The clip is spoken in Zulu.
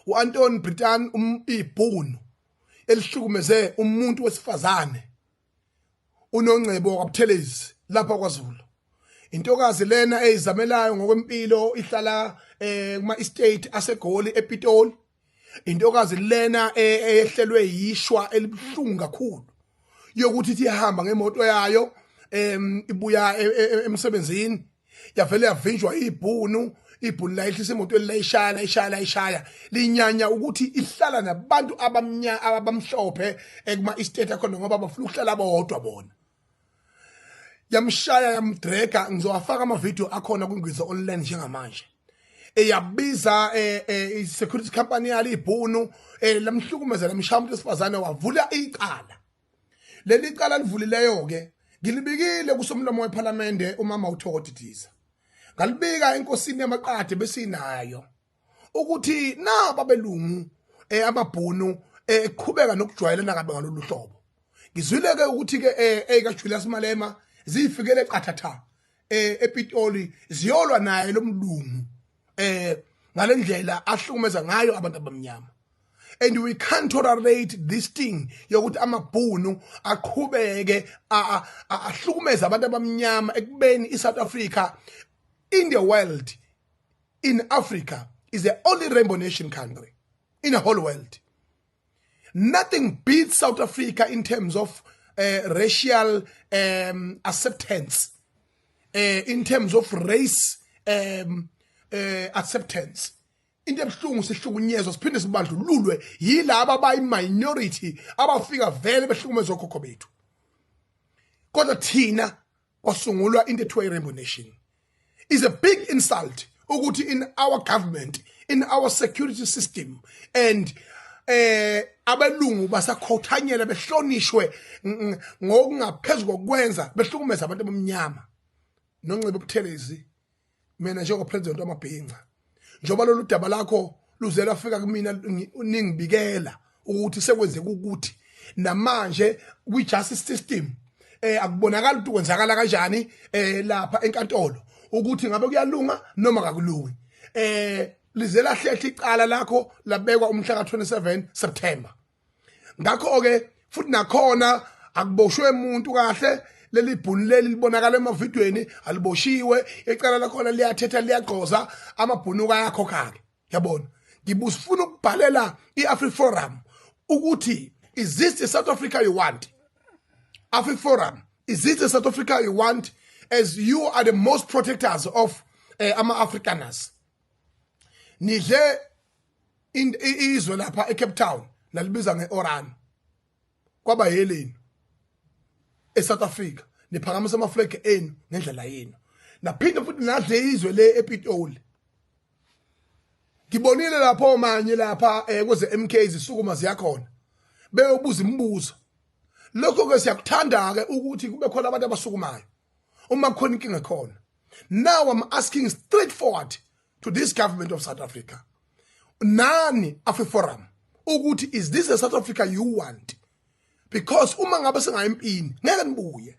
uAnton Britan umbibhunu elihlukumeze umuntu wesifazane unongcebo kwaButhelezi lapha kwaZulu intokazi lena eyizamelayo ngokwempilo ihlala eh kuma estate asegoli ePitoli intokazi lena eh, eyehlelwe yishwa elibuhlungu kakhulu yokuthi ihamba ngemoto yayo em ibuya e, e, e, emsebenzini yavele yavinjwa ibhunu ibhunu layehlisa imoto elilayishaya layishaya layishaya linyanya ukuthi ihlala nabantu abamnya abamhlophe ekuma estate akhona ngoba bafuna ukuhlala bodwa bona yamshaya yamdrega ngizowafaka ama video akhona kwingwiza online njengamanje eyabiza eh, eh, i-security company yalo ibhunu um eh, lamhlukumeza lamshaya umuntu wesifazane wavula icala leli cala livulileyo-ke ngilibikile kusomlomo wephalamende umama uthokoti diza ngalibika enkosini yamaqade besinayo ukuthi naba belungu eh, amabhunu eh, eqhubeka nokujwayelana kabe ngalolu hlobo ngizwile-ke ukuthi-ke eh, eyikajulius malema ziyifikele qathatha um epitoli ziyolwa naye lo mlungu eh ngalendlela ahlukumeza ngayo abantu abamnyama and we can't tolerate this thing yokuthi amabhunu aqhubeke ahlukumeza abantu abamnyama ekubeni iSouth Africa in the world in Africa is the only rainbow nation country in the whole world nothing beats south africa in terms of uh, racial um, acceptance uh, in terms of race um, uh, acceptance into ebuhlungu sihlukunyezwa siphinde sibandlululwe yilaba abayi-minority abafika vele behlukumezwa okhokho bethu kodwa thina kwasungulwa into ethiwa i-rainbow nation is a big insult ukuthi in our government in our security system and eh abelungu basakhothanyela behlonishwe ngokungaphezulu kokwenza behlukumeza abantu abamnyama nonxiba ubuthelezi mina njengopresident wamabhinca njengoba lolu daba lakho luze lafika kumina ningibikela ukuthi sekwenzeka ukuthi namanje kwi-justice system eh akubonakala ukuthi kwenzakala kanjani eh lapha enkantolo ukuthi ngabe kuyalunga noma kakulungi eh lize lahlehle icala lakho labekwa umhla ka-27 September ngakho-ke futhi nakhona akuboshwe umuntu kahle leli bhuni leli libonakala emavidweni aliboshiwe ecala lakhona liyathetha liyagqoza amabhunuka ayakhokha-ke yabona ngibusifuna ukubhalela i-afriforum ukuthi is this the south africa you want afriforum is this the south africa you want as you are the most protectors of uh, ama-afrikaners nidle izwe lapha eCape Town nalibiza ngeOran kwaba yeleni eSouth Africa niphakamisa ama flag enu ngendlela yenu naphinde futhi nadle izwe le ePitoli ngibonile lapho manje lapha eh, kweze MK zisukuma ziyakhona beyobuza imibuzo lokho ke siyakuthanda ke ukuthi kube khona abantu abasukumayo uma khona inkinga khona now i'm asking straightforward to this government of south africa nani afe-forum ukuthi is this the south africa you want because uma ngabe singayempini ngeke nibuye